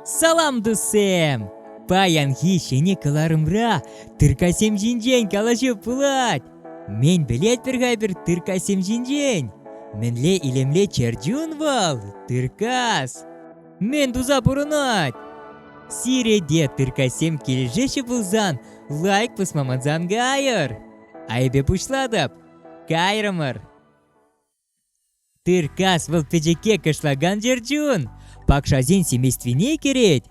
Салам, дусем! Паянхи ҫӗнӗ кӑларӑмра тыркасем ҫинчен калаҫу пулать. Мӗн пӗлетпӗр-ха пӗр тыркасем ҫинчен? Мӗнле илемле чӗрчун вӑл, тыркас? Мӗн туса пурӑнать? Сире дек-тыркасем килӗшеҫҫӗ пулсан, лайк пусмамансан кайӑр. Айӑпӗ пуҫлатӑп. Кайрӑмӑр. Тыркас вӑл пӗчӗкке кӑшлакан чӗрчун. Пакшасен семействине кӗрет.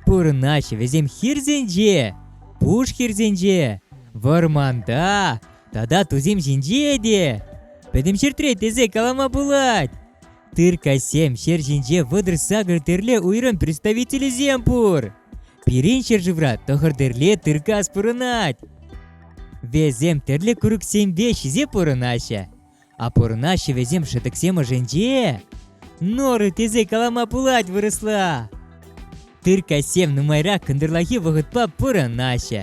Пурӑнаҫҫӗ вӗсем хирсенче, пуш хирсенче, вӑрманта тата тусем ҫинче те. Пӗтӗм ҫӗртре тесе калама пулать. Тыркасем ҫер ҫинче вӑтӑр сакӑр тӗрле уйрӑм представителӗсем пур. Пирӗн ҫӗршывра тӑхӑр тӗрле тыркас пурӑнать. Вӗсем тӗрлӗ курӑксемпе ҫисе пурӑнаҫҫӗ. А пурӑнаҫҫӗ вӗсем шӑтӑксем ӑшӗнче. Норы тесе калама пулать вырӑсла. Тыркасем нумайрах кӑнтӑрлахи вӑхӑтпа пурӑнаҫҫӗ.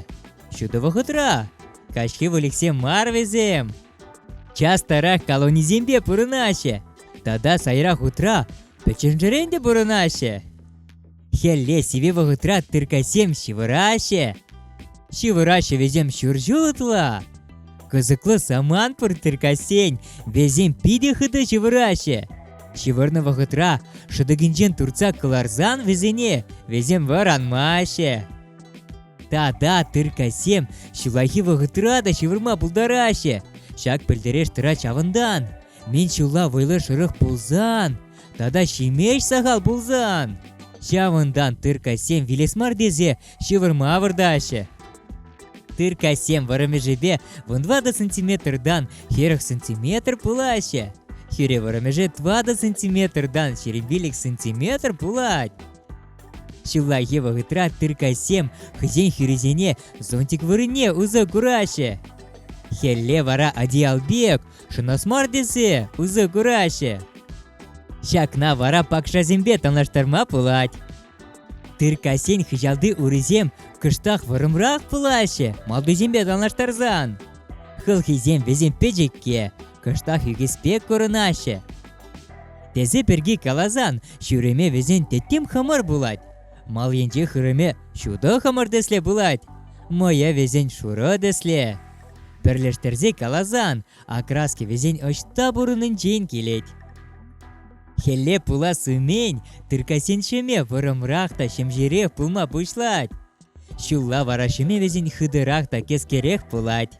Ҫутӑ вӑхӑтра. Каҫхи выльӑхсем мар вӗсем. Час-тарах колонисемпе пурӑнаҫҫӗ тата сайра хутра пӗчченшерен те пурӑнаҫҫӗ. Хӗлле сиве вӑхӑтра тыркасем ҫывӑраҫҫӗ. Ҫывӑра ҫӗвӗсем ҫур ҫул ытла. Кӑсӑклӑ самант пур тыркассен, вӗсем питӗ хытӑ ҫывӑраҫҫӗ. Ҫывӑрнӑ вӑхӑтра шӑтӑкӗнчен туртса кӑларсан вӗсене вӗсем вӑранмаҫҫӗ. Да-да, тыркасем ҫуллахи вӑхӑтра та ҫывӑрма пултараҫҫӗ. Ҫак пӗлтереш тӑрать ҫавӑнтан. Мин ҫулла вӑйлӑ шӑрӑх пулсан тата ҫимеш сахал пулсан. Ҫавӑнтан тыркасем вилес мар тесе ҫывӑрма выртаҫҫӗ. Тыркасем вӑрӑмӗшӗпе вун ватӑ сантиметртан хӗрӗх сантиметр пулаҫҫӗ. Хире вӑрӑмӗшӗ 20 сантиметртан ҫирӗм вилӗк сантиметр пулать. Чыллахи вӑхӑтра тыркасем хӑйсен хирӗсене зонтик вырӑнне усӑ кураҫҫӗ. Хӗлле вара одеял пек, шӑнас мар тесе усӑ кураҫҫӗ. Ҫакна вара пакшасемпе танлаштарма пулать. Тыркасен хыҫалти урисем кӑштах вӑрӑмрах пулаҫҫӗ малтисемпе танлаштарсан. Хӑлхисем вӗсем пӗчӗкке, кӑштах ӳкес пек курӑнаҫҫӗ. Тесе пирки каласан, ҫӳреме вӗсен теттим хӑмӑр пулать. Мал енчи хырӑмӗ ҫутӑ хӑмӑр тӗслӗ пулать. Мӑйӗ вӗсен шурӑ тӗслӗ. Пӗрлештерсе каласан, окраски вӗсен ӑҫта пурӑннинчен килет. Хӗлле пула сымен, тыркасен ҫӗме вӑрӑмрах та ҫемҫерех пулма пуҫлать. Ҫулла вара ҫӗме вӗсен хытӑрах та кӗскерех пулать.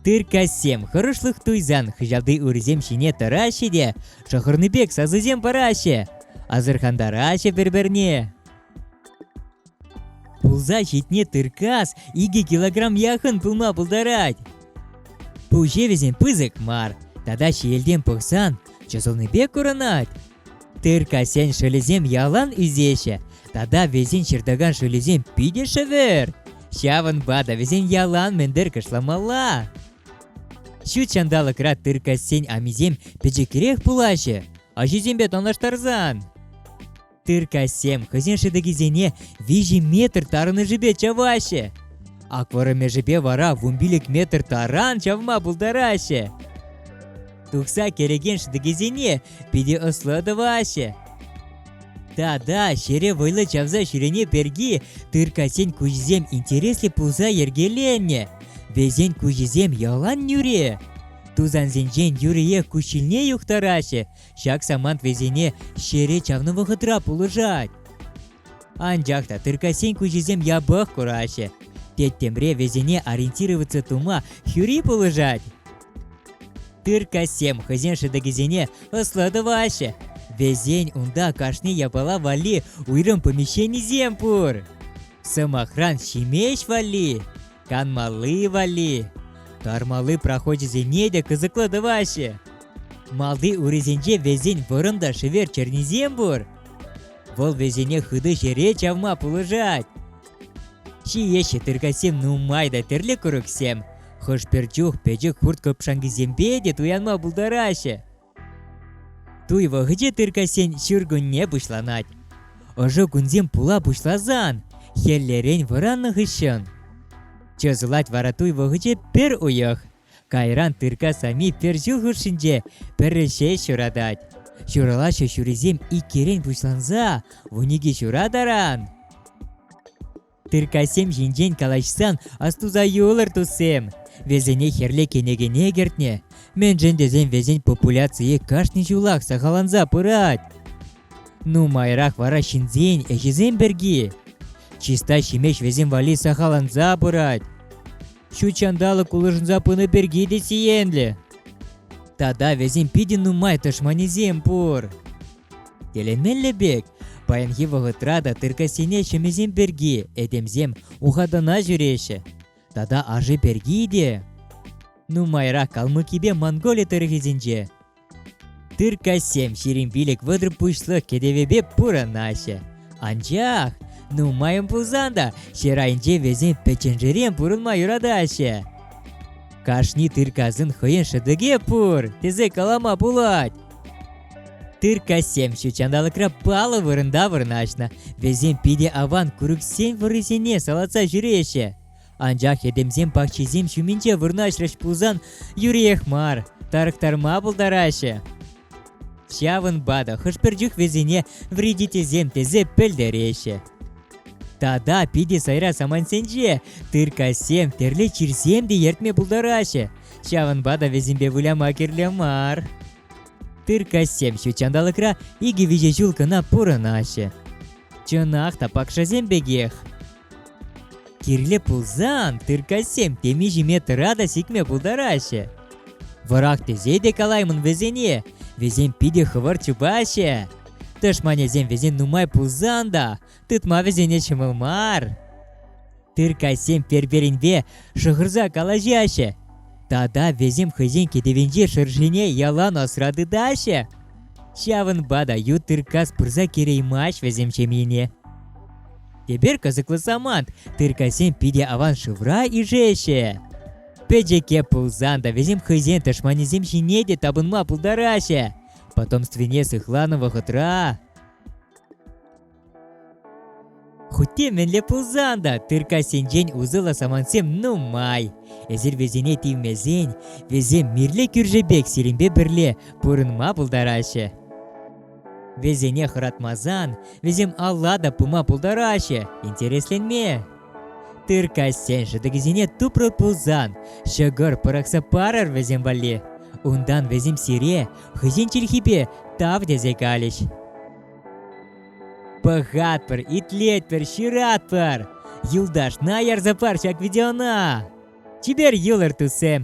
Тыркассем хӑрӑшлӑх туйсан хыҫалти урисем ҫине тӑраҫҫӗ те шӑхӑрнӑ пек сасӑсем параҫҫӗ. Асӑрхантараҫҫӗ пӗр-пӗрне. Пулса ҫитне тыркас 2 килограмм яхӑн пулма пултарать. Пуҫӗ вӗсен пысӑк мар тата ҫиелтен пӑхсан чӑсӑлнӑ пек курӑнать, Тыркасен шӑлӗсем ялан ӳсеҫҫӗ. Тата вӗсен ҫыртакан шӑлӗсем питӗ шӗвӗр. Ҫавӑнпа та вӗсен ялан мӗн-тӗр кӑшламалла. Ҫут ҫанталӑкра тыркассен амисем пӗчӗкрех пулаҫҫӗ, ачисемпе танлаштарсан. Тыркассем хӑйсен шӑтӑкӗсене виҫӗ метр тарӑнӑшӗпе чаваҫҫӗ. Акварумешӗпе вара вун пилӗк метр таран чавма пултараҫҫӗ. тухса кӗрекен шӗтӗкӗсене питӗ ӑслӑ тӑваҫҫӗ. Тата ҫӗре вӑйлӑ чавса ҫӳрене пирки тыркасен куҫӗсем интереслӗ пулса йӗркеленнӗ. Весен куҫӗсем ялан нӳре. Тусансенчен юриех куҫҫульне юхтараҫҫӗ. Ҫак самант весене ҫӗре чавнӑ вӑхӑтра пулӑшать. Анчах та тыркасен куҫӗсем япӑх кураҫҫӗ. Теттемре весене ориентироваться тума хӳри пулӑшать. Тыркасем хӑйсен шӑтӑкӗсене ӑслӑ тӑваҫҫӗ. Вӗсен унта кашни япала валли уйрӑм помещенисем пур. Сӑмахран, ҫимеҫ валли, канмалли валли, тармалли прохожисене те кӑсӑклӑ тӑваҫҫӗ. Малти урисенче вӗсен вӑрӑм та шӗвер чӗрнисем пур. Вӑл вӗсене хытӑ ҫӗре чавма пулӑшать. Ҫиеҫҫӗ тыркасем нумай та тӗрлӗ курӑксем. Хӑш-пӗр чух пӗчӗк хурт кӑпшанкисемпе те туянма пултараҫҫӗ. Туй вӑхӑчӗ тыркассен ҫуркунне пуҫланать. Ӑшӑ кунсем пула пуҫласан хӗллерен вӑраннӑ хыҫҫӑн чӑсӑлать вара туй вӑхӑчӗ пӗр уйӑх. Кайран тырка сами пӗр ҫул хушшинче пӗрре ҫеҫ ҫуратать. Ҫуралаҫҫӗ ҫурисем иккӗрен пуҫланса вун икӗ ҫура таран. Тыркасем ҫинчен калаҫсан астуса юлӑр, туссем. Вӗсене хӗрлӗ кӗнекене кӗртнӗ, мӗншӗн тесен вӗсен популяцийӗ кашни ҫулах сахалланса пырать. Нумайрах вара ҫынсен ӗҫӗсем пирки. Чиста ҫимеҫ вӗсем валли сахалланса пырать. Ҫут ҫанталӑк улшӑнса пыни пирки те сиенлӗ. Тата вӗсем питӗ нумай тӑшманӗсем пур. Телемеллӗ пек, паянхи вӑхӑтра та тыркассене ҫӑмӗсем пирки этемсем ухатана ҫӳреҫҫӗ. Тата аши пирки те. Нумайрах калмыккипе монголи тӑрӑхӗсенче тыркассем ҫирӗм пилӗк вӑтӑр пуҫлӑх кӗтӗвӗпе пурӑнаҫҫӗ. Анчах нумайӑн пулсан та ҫӗр айӗнче вӗсем пӗчченшерен пурӑнма юратаҫҫӗ. Кашни тыркасын хӑйӗн шӑтӑкӗ пур тесе калама пулать. Тыркасем ҫутҫанталӑкра паллӑ вырӑнта вырнаҫнӑ. Вӗсем питӗ аван курӑксен вӑррисене салатса ҫӳреҫҫӗ. Анчах этемсем пахчисем ҫумӗнче вырнаҫрӗҫ пулсан юриех мар, тарӑхтарма пултараҫҫӗ. Ҫавӑнпа та хӑш-пӗр чух вӗсене вредительсем тесе пӗлтереҫҫӗ. Тата питӗ сайра самантсенче тыркасем тӗрлӗ чирсем те ертме пултараҫҫӗ. Ҫавӑнпа та вӗсемпе выляма кирлӗ мар. Тыркассем ҫут ҫанталӑкра икӗ-виҫӗ ҫул кӑна пурӑнаҫҫӗ. Чӑнах та пакшасем пекех. Кирлӗ пулсан тыркассем теми ҫиме тӑра та сикме пултараҫҫӗ. Вӑрах тесе те калаймӑн вӗсене, вӗсем питӗ хӑвӑрт чупаҫҫӗ. Тӑшманӗсем вӗсен нумай пулсан та Тытма вӗсене ҫӑмӑл мар. Тыркасем пер-перинпе шӑхӑрса калаҫаҫҫӗ. Тата вӗсем хӑйсен кӗтӗвӗнче шӑршине ялан асра тытаҫҫӗ. Ҫавӑнпа та ют тыркас пырса кӗреймасть вӗсем ҫемьене. Тепер кӑсӑклӑ самант. Тыркасем питӗ аван шывра ишеҫҫӗ. Пӗчӗке пулсан та вӗсем хӑйсен тӑшманӗсем ҫине те тапӑнма пултараҫҫӗ. Потомствине сыхланӑ вӑхӑтра Хутте мӗнле пулсан та пӳркассенчен усӑллӑ самантсем нумай. Эсир вӗсене тивмесен, вӗсем мирлӗ кӳршӗ пек сирӗнпе пӗрле пурӑнма пултараҫҫӗ. Вӗсене хӑратмасан, вӗсем алла та пыма пултараҫҫӗ, интересленме. Тыркассен шӑтӑкӗсене тупрӑр пулсан ҫӑкӑр пӑрахса парӑр вӗсем валли. Унтан вӗсем сире хӑйсен чӗлхипе тав тесе калӗҫ. Пӑхатпӑр, итлетпӗр, ҫыратпӑр! Юлташна ярса пар ҫак видеона! Чипер йӑлӑр, туссем!